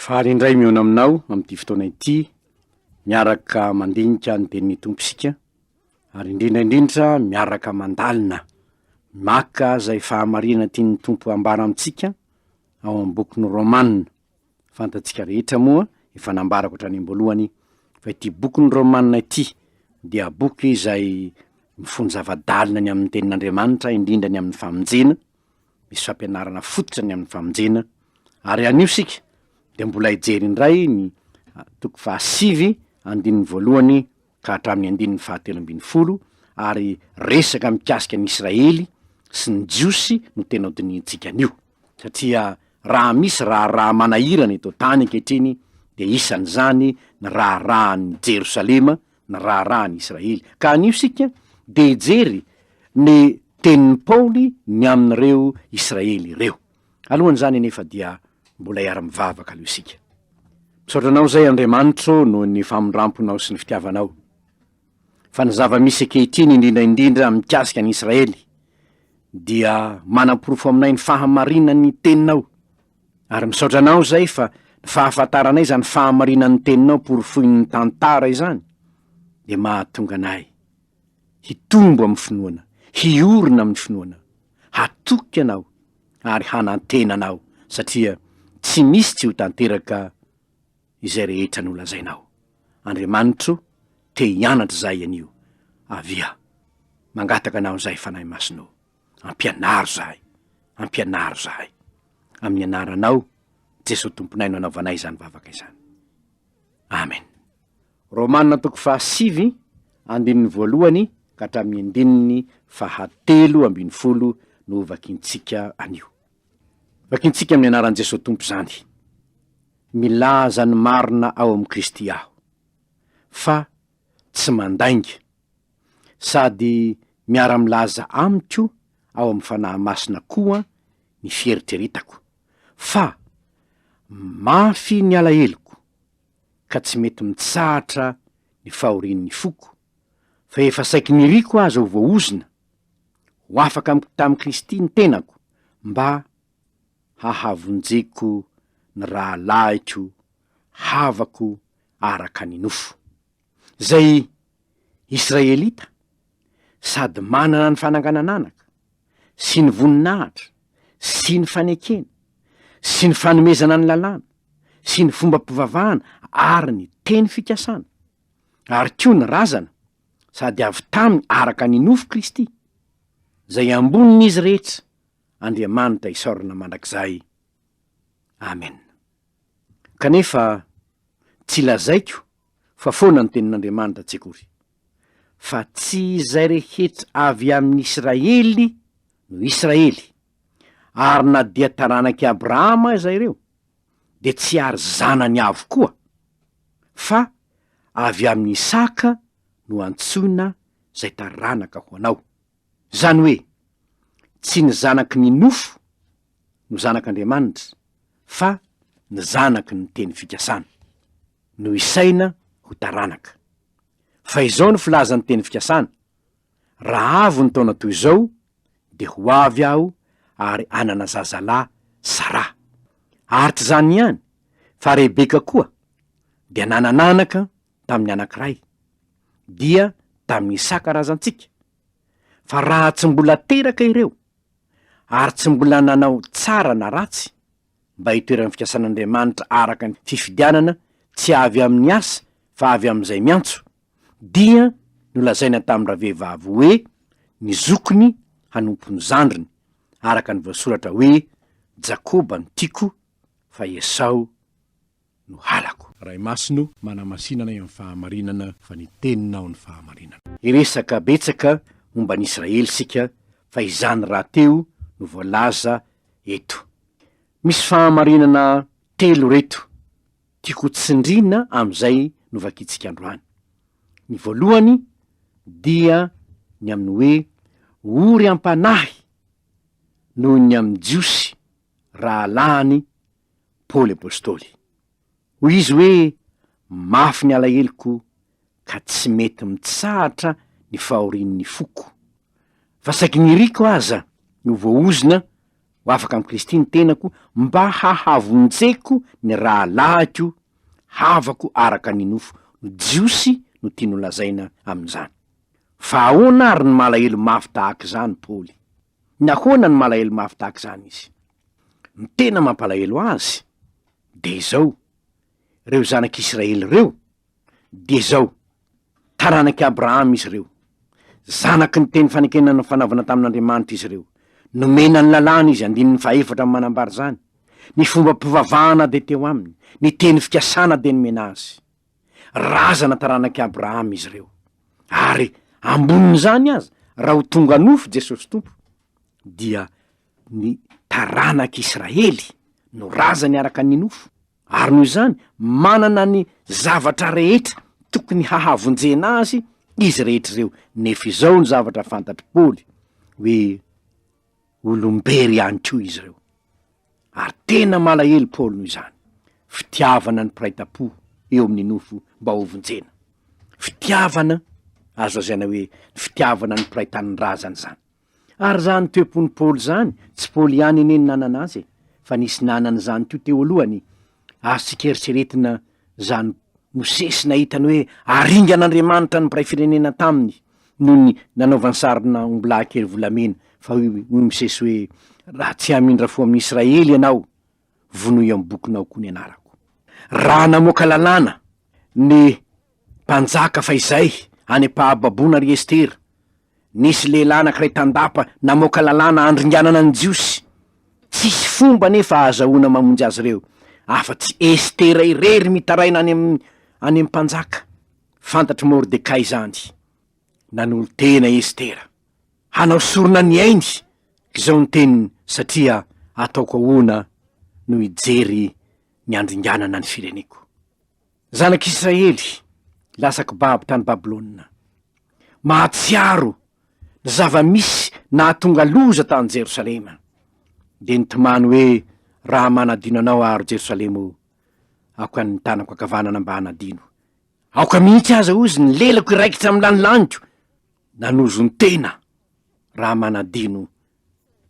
Faly indray mihaona aminao amin'ity fotoana ity, miaraka mandinika ny Tenin'ny Tompo isika, ary indrindra indrindra miaraka mandalina, maka izay fahamarinana tian'ny Tompo hambara amintsika ao amin'ny bokin'ny Romana. Fantatsika rehetra moa, efa nambarako hatrany am-boalohany, fa ity bokin'ny Romana ity dia boky izay mifono zava-dalina ny amin'ny Tenin'Andriamanitra, indrindra ny amin'ny famonjena, Misy fampianarana fototra ny amin'ny famonjena ary anio isika dia mbola hijery indray ny toko fahasivy andininy voalohany ka hatramin'ny andininy fahatelo ambin'ny folo ary resaka mikasika an'i Israely sy ny Jiosy no tena hodinihintsika anio satria raha misy raharaha manahirana eto an-tany ankehitriny dia isan'izany ny raharahan'i Jerosalema ny raharaha any Israely. Ka anio isika dia hijery ny tenin'i Paoly ny amin'ireo Israely ireo. Alohan'izany anefa dia mbola hiara-mivavaka aloha isika. Misaotra anao izay Andriamanitro noho ny famindramponao sy ny fitiavanao. Fa ny zava-misy ankehitriny indrindra indrindra mikasika an'i Israely dia manaporofo aminay ny fahamarinan'ny teninao. Ary misaotra anao zay fa ny fahafantaranay izany fahamarinan'ny teninao porofoin'ny tantara izany dia mahatonga anay hitombo amin'ny finoana, hiorina amin'ny finoana, hatoky anao ary hanantena anao satria tsy misy tsy ho tanteraka izay rehetra nolazainao. Andriamanitro te hianatra zahay anio. Avia. Mangataka anao zay Fanahy Masina o. Ampianaro zahay, ampianaro zahay. Amin'ny anaranao Jesoa Tomponay no anaovanay izany vavaka izany. Amen. Romana toko fahasivy, andininy voalohany ka hatramin'ny andininy fahatelo ambin'ny folo no vakintsika anio. Vakintsika amin'ny anaran'i Jesoa Tompo izany. Milaza ny marina ao amin'i Kristy aho, fa tsy mandainga, sady miara-milaza amiko ao amin'ny Fanahy Masina koa ny fieritreretako, fa mafy ny alaheloko, ka tsy mety mitsahatra ny fahorian'ny foko, fa efa saiky niriko aza ho voahozona, ho afaka amiko tamin'i Kristy ny tenako, mba hahavonjeko ny rahalahiko havako araka ny nofo. Izay Israelita sady manana ny fananganan-anaka, sy ny voninahitra, sy ny fanekena, sy ny fanomezana ny Lalàna, sy ny fombam-pivavahana ary ny teny fikasana, ary koa ny razana, sady avy taminy araka ny nofo Kristy, izay ambonin'izy rehetra, Andriamanitra isaorana mandrakizay. Amena. Kanefa tsy lazaiko fa foana ny tenin'Andriamanitra tsy akory. Fa tsy izay rehetra avy amin'Israely no Israely, ary na dia taranak'i Abrahama aza ireo, dia tsy ary zanany avokoa, fa avy amin'i Isaka no antsoina izay taranaka ho anao. Izany hoe, tsy ny zanaky ny nofo, no zanak'Andriamanitra fa ny zanaky ny teny fikasana no isaina ho taranaka. Fa izao no filazan'ny teny fikasana, Raha avo ny taona toy izao, dia ho avy aho ary hanana zazalahy Saraha. Ary tsy izany ihany, fa Rebeka koa dia nanana anaka tamin'ny anankiray, dia tamin'i Isaka razantsika. Fa raha tsy mbola teraka ireo, ary tsy mbola nanao tsara na ratsy mba hitoeran'ny fikasan'Andriamanitra araka ny fifidianana tsy avy amin'ny asa fa avy amin'izay miantso, dia nolazaina tamin'ny ravehivavy hoe ny zokiny hanompo ny zandriny, araka ny voasoratra hoe Jakoba no tiako, fa Esao no halako. Ray Masino, manamasina anay amin'ny fahamarinana fa ny Teninao no fahamarinana. Hiresaka betsaka momba an'i Israely isika fa izany rahateo no voalaza eto. Misy fahamarinana telo ireto tiako ho tsindriana amin'izay novakintsika androany. Ny voalohany dia ny amin'ny hoe ory am-panahy noho ny amin'ny Jiosy rahalahiny Paoly Apostoly. Hoy izy hoe, Mafy ny alaheloko ka tsy mety mitsahatra ny fahorian'ny foko. Fa saiky niriko aza ny ho voaozona ho afaka amin'i Kristy ny tenako mba hahavonjeko ny rahalahiko havako araka ny nofo no Jiosy no tiany holazaina amin'izany. Fa ahoana ary no malahelo mafy tahaka izany Paoly? Nahoana no malahelo mafy tahaka izany izy? Ny tena mampalahelo azy dia izao, ireo zanak'Israely ireo dia izao, taranak'i Abrahama izy ireo, zanaky ny teny fanekena nifanaovana tamin'Andriamanitra izy ireo, nomena ny Lalàna izy, andininy fahefatra no manambara izany, ny fombam-pivavahana dia teo aminy, ny teny fikasana dia nomena azy. Razana taranak'i Abrahama izy ireo. Ary ambonin'izany aza, raha ho tonga nofo Jesosy Tompo, dia ny taranak'i Israely no razany araka ny nofo, ary noho izany manana ny zavatra rehetra tokony hahavonjena azy izy rehetra ireo. Nefa izao no zavatra fantatr'i Paoly, hoe. Olom-bery ihany koa izy ireo. Ary tena malahelo Paolo noho izany. Fitiavana ny mpiray tam-po eo amin'ny nofo mba hovonjena. Fitiavana, azo lazaina hoe ny fitiavana ny mpiray tanindrazana izany. Ary izany toe-pon'i Paolo izany, tsy Paolo ihany anie no nanana azy e, fa nisy nanana izany koa teo alohany, Azo tsy keritreretina izany Mosesy nahita ny hoe aringan'Andriamanitra ny mpiray firenena taminy noho ny nanaovany sarina ombilahy kely volamena, fa hoy i Mosesy hoe, Raha tsy hamindra fo amin'ny Israely ianao, vonoy ao amin'ny bokinao koa ny anarako. Raha namoaka lalàna ny Mpanjaka fahizay any am-pahababoana ry Estera. Nisy lehilahy anankiray tandapa namoaka lalàna handringanana ny Jiosy. Tsisy fomba anefa ahazahoana mamonjy azy ireo, afa-tsy Estera irery mitaraina any amin'ny any amin'ny mpanjaka. Fantatr'i Mordekay izany. Nanolo-tena i Estera. Hanao sorona ny ainy! Izao ny teniny, Satria ataoko ahoana no hijery ny handringanana ny fireneko? Zanak'Israely lasa kibabo tany Babylona. Mahatsiaro ny zava-misy nahatonga loza tany Jerosalema. Dia nitomany hoe, Raha manadino anao aho, ry Jerosalema ô, aoka ny tanako ankavanana mba hanadino. Aoka mihitsy aza, hoy izy, ny lelako hiraikitra amin'ny lanilaniko. Nanozon-tena raha manadino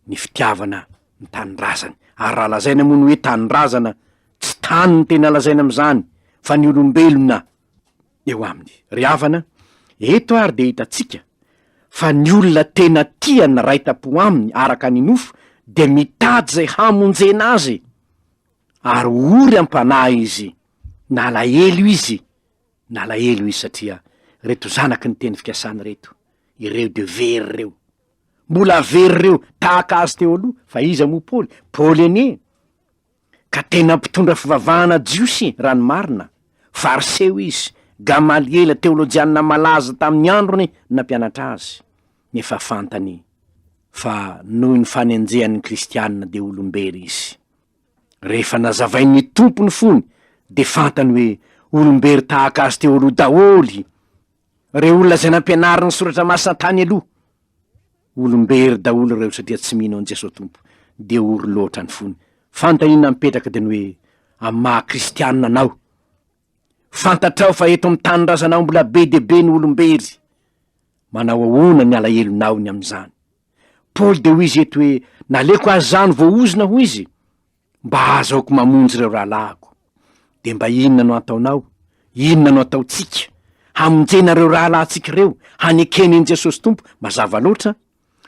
ny fitiavana ny tanindrazany, ary raha lazaina moa ny hoe tanindrazana, tsy tany no tena lazaina amin'izany fa ny olombelona eo aminy. Ry havana, eto ary dia hitantsika fa ny olona tena tia ny ray tam-po aminy araka ny nofo dia mitady izay hamonjena azy, ary ory am-panahy izy na alahelo izy na alahelo izy satria ireto zanaky ny teny fikasana ireto, ireo dia very ireo, Mbola very reo tahaka azy teo aloha, fa iza moa Paoly? Paoly anie ka tena mpitondra fivavahana jiosy e, raha ny marina. Fariseo izy, Gamaliela teolojianina malaza tamin'ny androny no nampianatra azy. Nefa fantany fa noho ny fanenjehan'ny kristiana dia olombery izy. Rehefa nazavain'ny Tompo ny fony dia fantany hoe olombery tahaka azy teo aloha daholy. Ireo olona izay nampianarin'ny Soratra Masina tany aloha, olom-bery daholo ireo satria tsy mino an'i Jesoa Tompo, dia ory loatra ny fony. Fanontaniana mipetraka dia ny hoe, amin'ny maha kristianina anao, fantatrao fa eto amin'ny tanindrazanao mbola be dia be ny olom-bery, manao ahoana ny alahelonao ny amin'izany? Paoly dia hoy izy eto hoe, naleoko azy izany voahozona, hoy izy, Mba azaoko mamonjy ireo rahalahiko. Dia mba inona no ataonao, inona no ataontsika, hamonjena ireo rahalahintsika ireo, hanekeny an'i Jesosy Tompo? Mazava loatra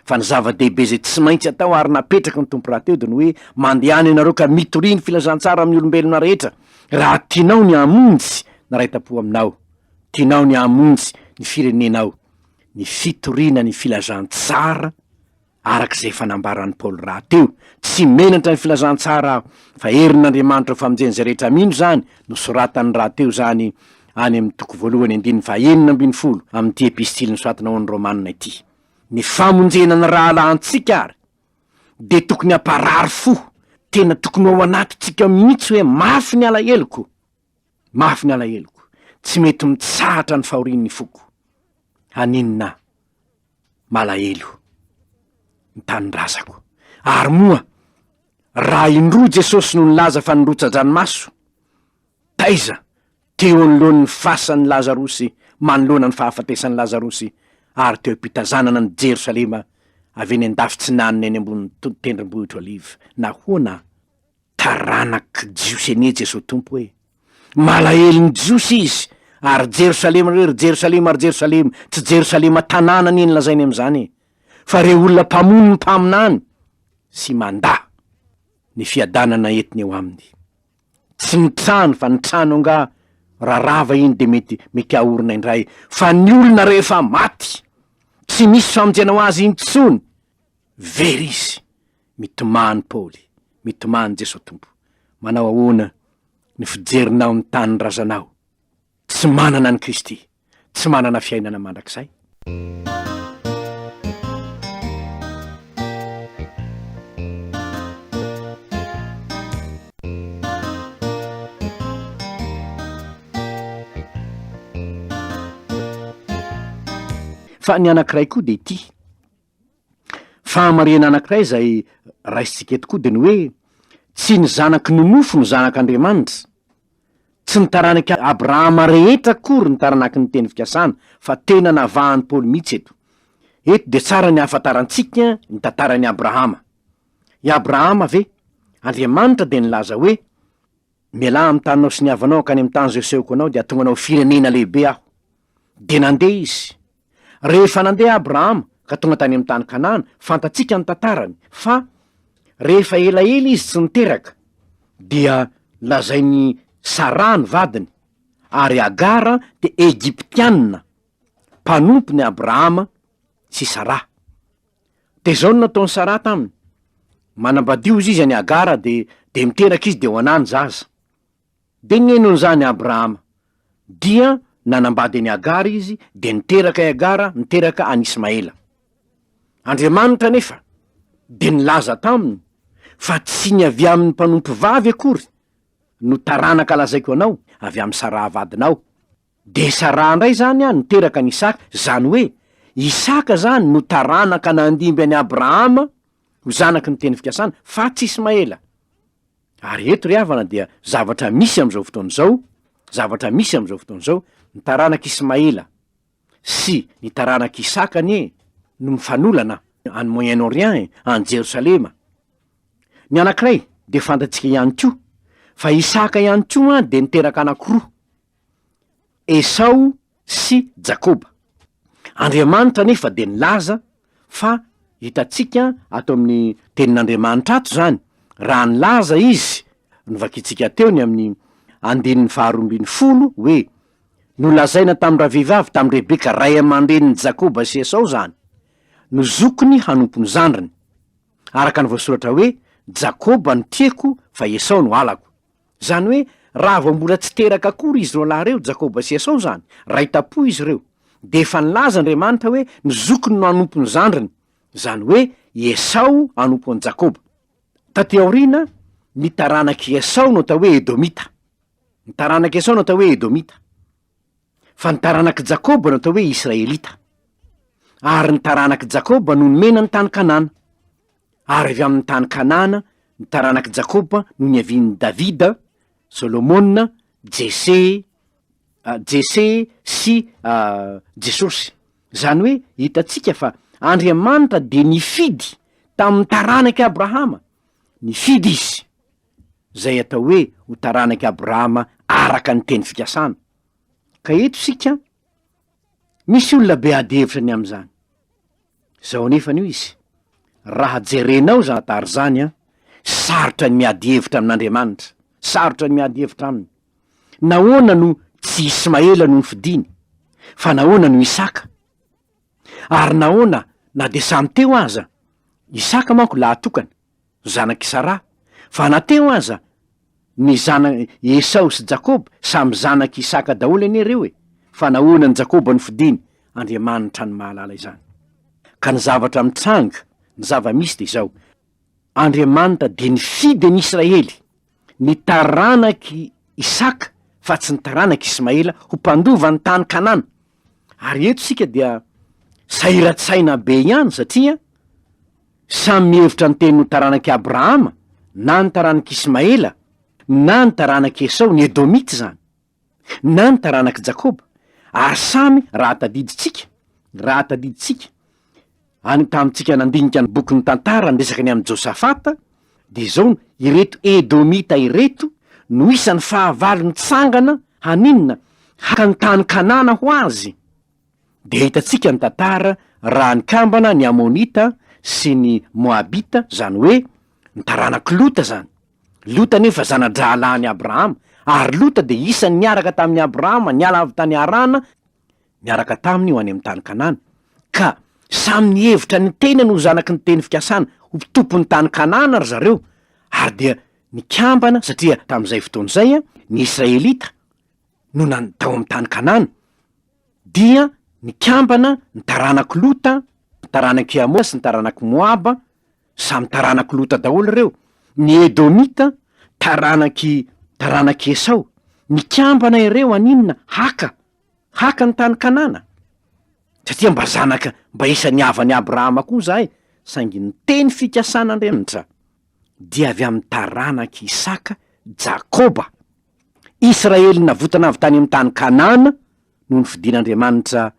fa ny zava-dehibe izay tsy maintsy atao ary napetraky ny Tompo rahateo dia ny hoe, Mandehana ianareo ka mitoria ny filazantsara amin'ny olombelona rehetra, raha tianao ny hamonjy ny iray tam-po aminao, tianao ny hamonjy ny firenenao, ny fitoriana ny filazantsara, Araka izay efa nambaran'i Paoly rahateo, tsy menatra ny filazantsara aho, fa herin'Andriamanitra ho famonjen'izay rehetra mino izany, nosoratany rahateo izany any amin'ny toko voalohany andininy fahenina ambin'ny folo amin'ity epistily nosoratana ho an'ny Romana ity. Ny famonjena ny rahalahintsika àry dia tokony hamparary fo, tena tokony ho ao anatintsika mihitsy hoe mafy ny alaheloko. Mafy ny alaheloko, tsy mety mitsahatra ny fahorian'ny foko. Haninona aho? Malahelo ny tanindrazako. Ary moa, raha indroa Jesosy no nilaza fa nirotsa-dranomaso, taiza teo anoloan'ny fasan'i Lazarosy manoloana ny fahafatesan'i Lazarosy ary teo am-pitazanana an'i Jerosalema avy eny an-dafitsinanana eny ambonin'ny tendrombohitro Oliva? Nahoana Taranak' i Jiosy anie Jesoa Tompo e! Malahelo ny Jiosy Izy ary Jerosalema re, ry Jerosalema, ry Jerosalema, tsy Jerosalema tanàna anie ny lazainy amin'izany e! Fa reo olona mpamono ny mpaminany sy mandà ny fiadanana entiny eo aminy. Tsy ny trano fa ny trano angaha raha rava iny dia mety mety ahorona indray fa ny olona rehefa maty tsy misy famonjena ho azy intsony! Very izy! Mitomany Paoly, mitomany Jeso Tompo. Manao ahoana ny fijerinao ny tanindrazanao tsy manana an'i Kristy, tsy manana fiainana mandrakizay? Fa ny anankiray koa dia ity. Fahamarihana anankiray izay raisintsika eto koa dia ny hoe tsy ny zanaky ny nofo no zanak'Andriamanitra. Tsy ny taranak'i Abrahama rehetra akory ny taranaky ny teny fikasana, fa tena navahan'i Paoly mihitsy eto. Eto dia tsara ny hahafantarantsika ny tantaran'i Abrahama. I Abrahama ve? Andriamanitra dia nilaza hoe. Mialà amin'ny taninao sy ny havanao hankany amin'ny tany izay asehoko anao, dia hahatonga anao ho firenena lehibe Aho. Dia nandeha izy. Rehefa nandeha Abrahama ka tonga tany amin'ny tany Kanana, fantatsika ny tantarany, fa rehefa elaela izy tsy niteraka, dia lazain'i Saraha ny vadiny, ary Hagara dia Egyptiana, mpanompony Abrahama sy Saraha. De zao no nataon'i Saraha taminy, manambady hozy izy an'i Hagara de de miteraka izy de ho anà ny zaza. De nenon'izany Abrahama, dia nanambady an'i Hagara izy de niteraka i Hagara, niteraka an'i Ismaela. Andriamanitra anefa de nilaza taminy fa tsy ny avy amin'ny mpanompovavy akory no taranaka lazaiko anao, avy amin'i Saraha vadinao, Dia Saraha indray izany an niteraka an'i Isaka, izany hoe Isaka izany no taranaka nandimby an'i Abrahama ho zanaky ny teny fikasana, fa tsy Ismaela. Ary eto ry havana dia zavatra misy amin'izao fotoana izao, zavatra misy amin'izao fotoana izao, ny taranak'i Ismaela sy ny taranak'i Isaka anie no mifanolana any Moyen Orient e, any Jerosalema. Ny anankiray dia fantatsika ihany koa, fa Isaka ihany koa an dia niteraka anankiroa, Esao sy Jakoba. Andriamanitra anefa dia nilaza fa hitantsika ato amin'ny Tenin'Andriamanitra ato izany, raha nilaza Izy, novakintsika teo ny amin'ny andininy faharoa ambin'ny folo, hoe, Nolazaina tamin-dravehivavy, tamin'i Rebeka, ray aman-drenin'i Jakoba sy Esao izany, no zokiny hanompo ny zandriny, araka ny voasoratra hoe, Jakoba no tiako, fa Esao no halako. Zany hoe raha vao mbola tsy teraka akory izy roalahy reo, Jakoba sy Esao zany, ray tampo izy reo, de efa nilaza Andriamanitra hoe ny zokiny no hanompo ny zandriny, zany hoe i Esao hanompo an'i Jakoba. Taty aoriana, ny taranak'i Esao no atao hoe Edomita. Ny taranak'i Esao no atao hoe Edomita. fa ny taranak'i Jakoba no atao hoe Israelita, ary ny taranak'i Jakoba no nomena ny tany Kanana, ary avy amin'ny tany Kanana ny taranak'i Jakoba no niavian'i Davida, Solomona, Jese, ah, Jese sy ah, Jesosy. Izany hoe hitantsika fa Andriamanitra dia nifidy tamin'ny taranak'i Abrahama, nifidy Izy. izay atao hoe ho taranak'i Abrahama araka ny teny fikasana. Ka eto isika an, misy olona be ady hevitra ny amin'izany. Izao anefa no izy, raha jerenao izany tara izany an, sarotra ny miady hevitra amin'Andriamanitra, sarotra ny miady hevitra aminy. Nahoana no tsy Ismaela no nofidiny, fa nahoana no Isaka? Ary nahoana na dia samy teo aza, Isaka manko lahatokana, zanak'i Saraha, fa na teo aza ny zana-, Esao sy Jakoba, samy zanak'i Isaka daholo anie ireo e! fa nahoana an'i Jakoba no fidiny? Andriamanitra no mahalala izany. Ka ny zavatra mitranga, ny zava-misy dia izao, Andriamanitra dia nifidy an'i Israely, ny taranak'i Isaka fa tsy ny taranak'i Ismaela ho mpandova ny tany Kanana. Ary eto isika dia sahiran-tsaina be ihany satria samy mihevitra ny teny ho taranak'i Abrahama na ny taranak'i Ismaela na ny taranak'i Esao, ny Edomita izany. na ny taranak'i Jakoba, ary samy raha tadidintsika, raha tadidintsika, any tamintsika nandinika ny bokin'ny Tantara niresaka ny amin'i Josafata, dia izao no, ireto Edomita ireto no isan'ny fahavalo nitsangana, haninona? haka ny tany Kanana ho azy. dia hitantsika ny tantara raha nikambana ny Amonita sy ny Moabita, izany hoe ny taranak'i Lota izany. Lota anefa zana-drahalahin'i Abrahama, ary Lota dia isan'ny niaraka tamin'i Abrahama niala avy tany Harana niaraka taminy ho any amin'ny tany Kanana. Ka samy nihevitra ny tenany ho zanaky ny teny fikasana, ho mpitompon'ny tany Kanana ry zareo, ary dia nikambana, satria tamin'izay fotoana izay, ny Israelita. no nan tao amin'ny tany Kanana, dia nikambana ny taranak'i Lota, ny taranak'i Hama sy ny taranak'i Moaba, samy taranak'i Lota daholo ireo, ny Edomita, taranak'i taranak'i Esao. Nikambana ireo haninona? Haka, haka ny tany Kanana. Satria mba zanaka, mba isan'ny havan'i Abrahama koa izahay, saingy ny teny fikasan'Andriamnitra dia avy amin'ny taranak'i Isaka, Jakoba. Israely navotana avy tany amin'ny tany Kanana no nofidin'Andriamanitra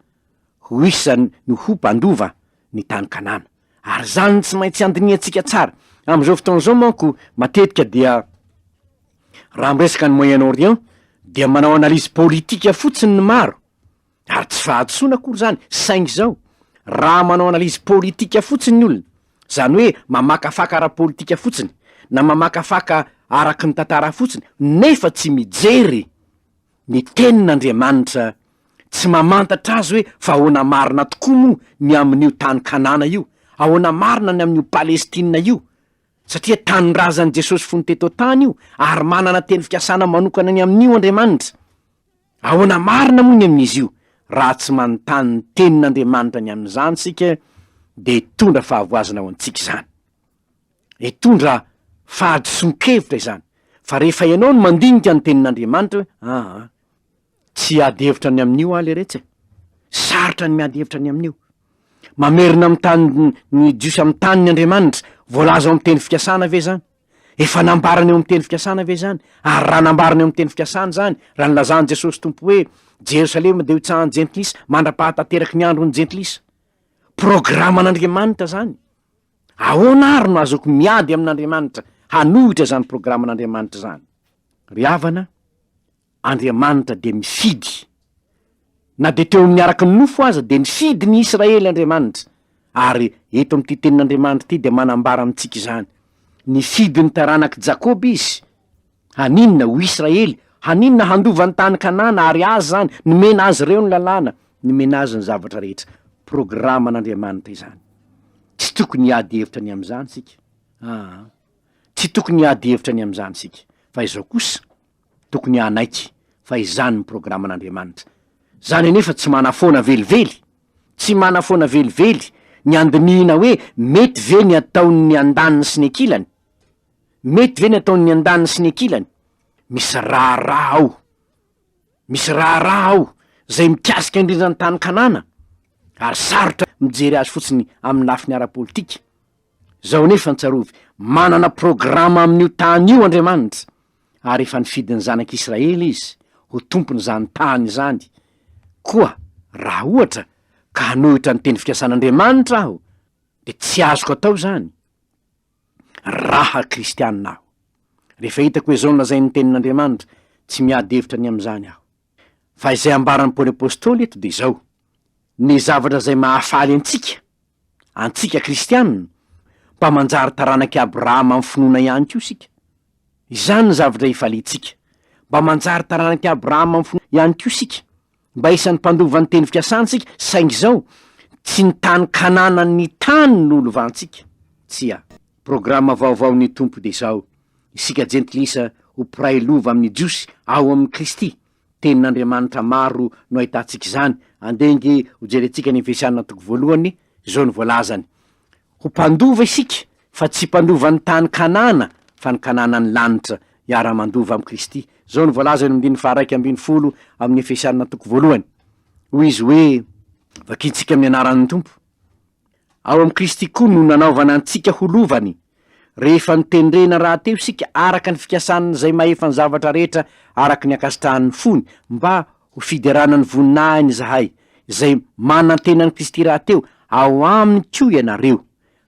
ho isany no ho mpandova ny tany Kanana. Ary izany no tsy maintsy andinihantsika tsara. Amin'izao fotoana izao manko matetika dia raha miresaka ny Moyen Orient dia manao analyse politika fotsiny ny maro Ary tsy fahadisoana akory izany, saingy izao, raha manao analyse politika fotsiny ny olona, izany hoe mamakafaka ara-politika fotsiny, na mamakafaka araky ny tantara fotsiny, nefa tsy mijery ny Tenin'Andriamanitra, tsy mamantatra azy hoe fa ahoana marina tokoa moa ny amin'io tany Kanana io, ahoana marina ny amin'io Palestina io, satria Tanindrazan'i Jesosy fony teto an-tany io, ary manana teny fikasana manokana ny amin'io Andriamanitra. Ahoana marina moa ny amin'izy io? Raha tsy manontany ny Tenin'Andriamanitra ny amin'izany isika, dia hitondra fahavoazana ho antsika izany. Hitondra fahadisoan-kevitra izany. Fa rehefa ianao no mandinika ny Tenin'Andriamanitra hoe, aa, tsy hiady hevitra ny amin'io aho leretsy e! Sarotra ny miady hevitra ny amin'io. Mamerina amin'ny tany ny jiosy amin'ny tany ny Andriamanitra. Voalaza ao amin'ny teny fikasana ve izany? Efa nambarany eo amin'ny teny fikasana ve izany? Ary raha nambarany eo amin'ny teny fikasana izany, raha nilazan'i Jesosy Tompo hoe, Jerosalema dia ho tsahan'ny Jentilisa mandra-pahatanteraky ny andron'ny Jentilisa. Programan'Andriamanitra izany. Ahoana àry no azoko miady amin'Andriamanitra hanohitra izany programan'Andriamanitra izany? Ry havana, Andriamanitra dia mifidy. Na dia teo amin'ny araka ny nofo aza dia nifidy ny Israely Andriamanitra, ary eto amin'ity tenin'Andriamanitra ity dia manambara amintsika izany. Nifidy ny taranak'i Jakoba izy. Haninona? Ho Israely. Haninona? Handova ny tany Kanana, ary azy izany. Nomena azy ireo ny lalàna. Nomena azy ny zavatra rehetra. Programan'Andriamanitra izany. Tsy tokony hiady hevitra ny amin'izany isika. Aa. Tsy tokony hiady hevitra ny amin'izany isika. Fa izao kosa, Tokony hanaiky fa izany ny programan'Andriamanitra. Izany anefa tsy manafoana velively. Tsy manafoana velively ny handinihina hoe mety ve ny ataon'ny andaniny sy ny ankilany? Mety ve ny ataon'ny andaniny sy ny ankilany? Misy raharaha ao. Misy raharaha ao izay mikasika indrindra ny tany Kanana, ary sarotra mijery azy fotsiny amin'ny lafiny ara-politika. Izao anefa ny tsarovy, manana programa amin'io tany io Andriamanitra. ary efa nifidy ny zanak' Israely izy ho tompon' izany tany izany, koa raha ohatra ka hanohitra ny teny fikasan' Andriamanitra aho, dia tsy azoko atao izany, raha kristiana aho. Rehefa hitako hoe izao no lazain' ny Tenin' Andriamanitra, tsy miady hevitra ny amin' izany aho. Fa izay ambaran'i Paoly Apostoly eto dia izao, ny zavatra izay mahafaly antsika, antsika kristiana, mba manjary taranak'i Abrahama amin'ny finoana ihany koa isika. Izany ny zavatra ifaliantsika, mba manjary taranak'i Abrahama amin'ny finoana ihany koa isika, mba isan'ny mpandova ny teny fikasantsika, saingy izao, tsy ny tany Kanana ny tany no lovantsika. Tsia. Programa vaovaon'ny Tompo dia izao, Isika Jentilisa ho mpiray lova amin'ny Jiosy ao amin'i Kristy. Tenin'Andriamanitra maro no ahitantsika izany, andeha ange ho jerentsika ny Efesiana toko voalohany, izao no voalazany, Ho mpandova isika, fa tsy mpandovan'ny tany Kanana, fa ny Kananan'ny lanitra, hiara-mandova amin'i Kristy. Izao no voalaza eny amin'ny andininy faha-iraika ambin'ny folo amin'ny Efesiana toko voalohany. Hoy izy hoe, Vakintsika amin'ny anaran'ny Tompo. Ao amin'i Kristy koa no nanaovana antsika ho lovany, rehefa notendrena rahateo isika araka ny fikasan'Izay mahefa ny zavatra rehetra araka ny ankasitrahan'ny fony, mba ho fiderana ny voninahiny izahay, izay manantena an'i Kristy rahateo, ao Aminy koa ianareo,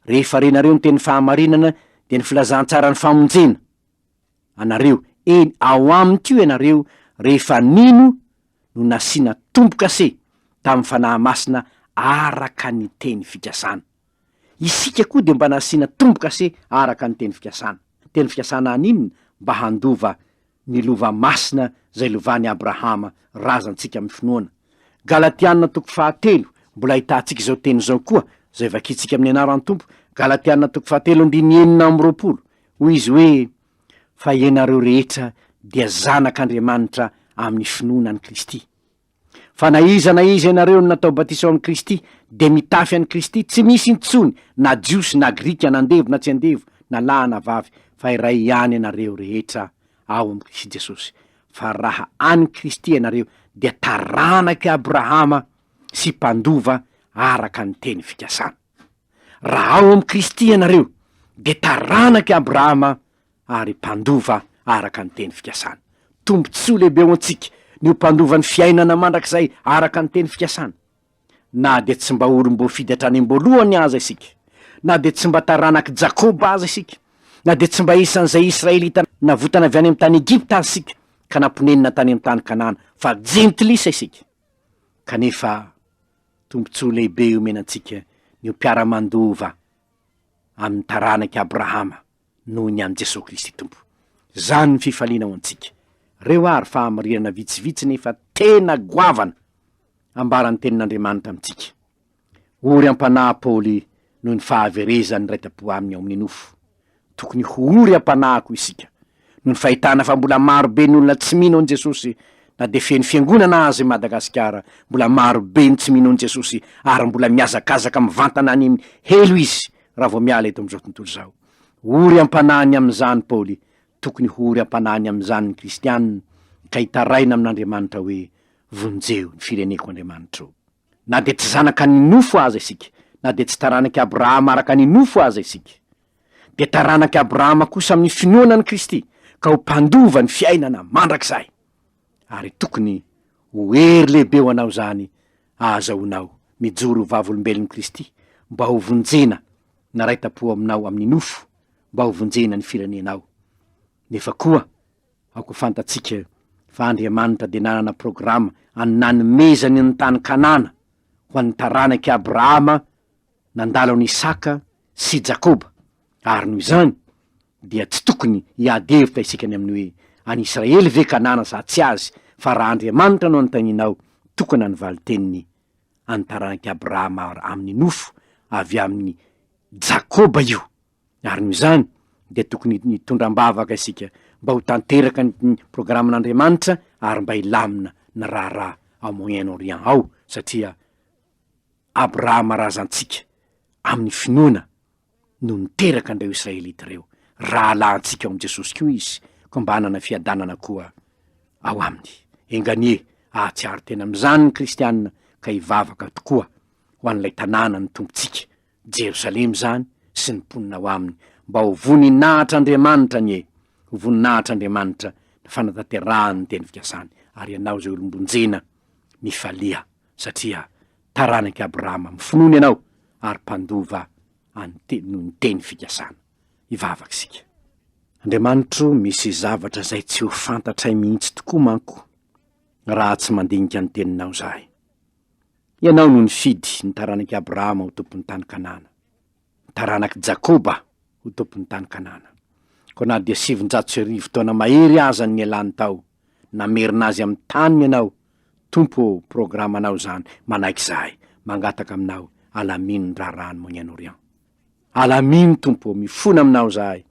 rehefa renareo ny teny fahamarinana, dia ny filazantsaran'ny famonjena. anareo, eny, ao aminy koa ianareo, rehefa nino no nasiana tombo-kase tamin'ny Fanahy Masina araka ny teny fikasana. Isika koa dia mba nasiana tombo-kase araka ny teny fikasana. Teny fikasana haninona? Mba handova ny lova masina izay lovan'i Abrahama, razantsika amin'ny finoana. Galatiana toko fahatelo, mbola ahitantsika izao teny izao koa, izay vakintsika amin'ny anaran'ny Tompo, Galatiana toko fahatelo andininy enina amby roapolo, Hoy izy hoe, Fa ianareo rehetra dia zanak' Andriamanitra amin' ny finoana an'i Kristy. Fa na iza na iza ianareo no natao batisa ao amin'i Kristy, dia mitafy an'i Kristy, tsy misy intsony na Jiosy na Grika, na andevo na tsy andevo, na lahy na vavy, fa iray ihany ianareo rehetra ao amin'i Kristy Jesosy. Fa raha an'i Kristy ianareo, dia taranak'i Abrahama sy mpandova araka ny teny fikasana. Raha ao amin'i Kristy ianareo, dia taranak'i Abrahama ary mpandova araka ny teny fikasana. Tombontsoa lehibe ho antsika ny ho mpandova ny fiainana mandrakizay araka ny teny fikasana! Na dia tsy mba olom-boafidy hatrany am-boalohany aza isika, na dia tsy mba taranak'i Jakoba aza isika, na dia tsy mba isan'izay Israelita navotana avy any amin'ny tany Egypta aza isika ka namponenina tany amin'ny tany Kanana, fa jentilisa isika. kanefa tombontsoa lehibe omena antsika ny ho mpiara-mandova amin'ny taranak'i Abrahama noho ny an'i Jesoa Kristy Tompo. Izany ny fifaliana ho antsika. Reo ary fahamarinana vitsivitsy nefa tena goavana ambaran'ny Tenin'Andriamanitra amintsika. Ory am-panahy Paoly noho ny fahaverezany ny raitampo aminy ao amin'ny nofo. Tokony ho ory am-panahy koa isika, noho ny fahitana fa mbola maro be ny olona tsy mino an'i Jesosy, na dia feno fiangonana aza i Madagasikara, mbola maro be ny tsy mino an'i Jesosy ary mbola mihazakazaka mivantana any helo izy raha vao miala eto amin'izao tontolo izao. Ory am-panahy ny amin'izany Paoly, tokony ho ory am-panahy ny amin'izany ny kristiana ka hitaraina amin'Andriamanitra hoe, Vonjeo ny fireneko Andriamanitro. Na dia tsy zanaka ny nofo aza isika, na dia tsy taranak'i Abrahama araka ny nofo aza isika, dia taranak'i Abrahama kosa amin'ny finoana an'i Kristy, ka ho mpandova ny fiainana mandrakizay. Ary tokony ho hery lehibe ho anao izany ahazahoanao mijoro ho vavolombelon'i Kristy, mba hovonjena naraita-po aminao amin'ny nofo, mba hovonjena ny firenenao, nefa koa Aoka ho fantatsika fa Andriamanitra dia nanana programa an'ny nanomezany ny tany Kanana ho an'ny taranak'i Abrahama nandalo an'i Isaka sy i Jakoba, ary noho izany dia tsy tokony hiady hevitra isika ny amin'ny hoe, An'i Israely ve Kanana sa tsy azy? Fa raha Andriamanitra no anontanianao, tokana ny valin-teniny, An'ny taranak'i Abrahama amin'ny nofo avy amin'i Jakoba io. Ary noho izany dia tokony hitondra am-bavaka isika mba ho tanteraka ny programan'Andriamanitra ary mba hilamina ny raharaha ao Moyen Orient ao satria Abrahama razantsika amin'ny finoana no niteraka an'ireo Israelita ireo, rahalahintsika ao amin'i Jesosy koa izy koa mba hanana fiadanana koa ao aminy. Enga anie hahatsiaro tena amin'izany ny kristiana ka hivavaka tokoa ho an'ilay tanàna ny Tompontsika. Jerosalema izany sy ny mponina ao aminy mba ho voninahitr'Andriamanitra anie! Ho voninahitr'Andriamanitra ny fanatanterahany ny teny fikasany. Ary ianao izay olom-bonjena, mifalia, satria taranak'i Abrahama amin'ny finoana ianao ary mpandova an'ny te- noho ny teny fikasana. Hivavaka isika. Andriamanitro o, misy zavatra izay tsy ho fantatray mihitsy tokoa manko raha tsy mandinika ny Teninao izahay. Ianao no nifidy ny taranak'i Abrahama ho tompon'ny tany Kanana, ny taranak'i Jakoba ho tompon'ny tany Kanana. Koa na dia sivinjato sy arivo taona mahery aza no nialany tao, namerina azy amin'ny taniny Ianao, Tompo ô, programanao izany, manaiky izahay, mangataka Aminao, alamino ny raharahan'i Moyen-Orient. Alamino Tompo ô, mifona aminao izahay,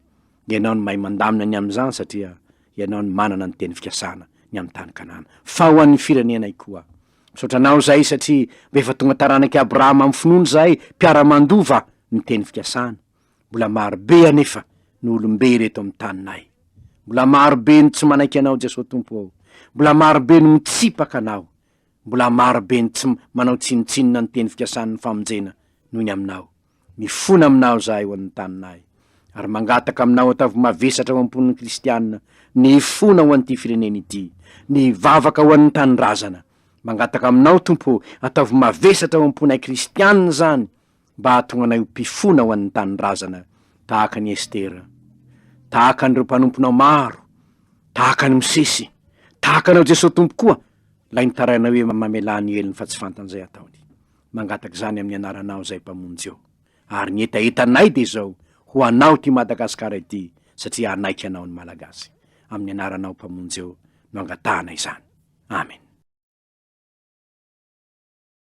Ianao no mahay mandamina ny amin'izany satria Ianao no manana ny teny fikasana ny amin'ny tany Kanana, fa ho an'ny firenenay koa. Misaotra Anao izahay satria mba efa tonga taranak'i Abrahama amin'ny finoana izahay, mpiara-mandova ny teny fikasana. Mbola maro be anefa no olom-be ireto amin'ny taninay. Mbola maro be no tsy manaiky Anao Jesoa Tompo ô, mbola maro be no mitsipaka Anao. Mbola maro be ny tsy manao tsinontsinona ny teny fikasan'ny famonjena noho ny aminao. Mifona aminao izahay ho an'ny taninay, ary mangataka aminao ataovy mavesatra ao am-pon'ny kristiana ny hifona ho an'ity firenena ity, ny hivavaka ho an'ny tanindrazana. Mangataka aminao, Tompo ô, ataovy mavesatra ao am-ponay kristiana izany, mba hahatonga anay ho mpifona ho an'ny tanindrazana tahaka an'i Estera, tahaka an'ireo mpanomponao maro, tahaka an'i Mosesy, tahaka anao Jesoa Tompo koa, ilay nitarainao hoe mamelà ny helony fa tsy fantan'izay ataony. Mangataka izany amin'ny anaranao izay Mpamonjy ô. Ary ny hetahetanay dia izao, ho anao ity Madagasikara ity satria hanaiky anao ny Malagasy. Amin'ny anaranao Mpamonjy ô no angatahana izany. Amen.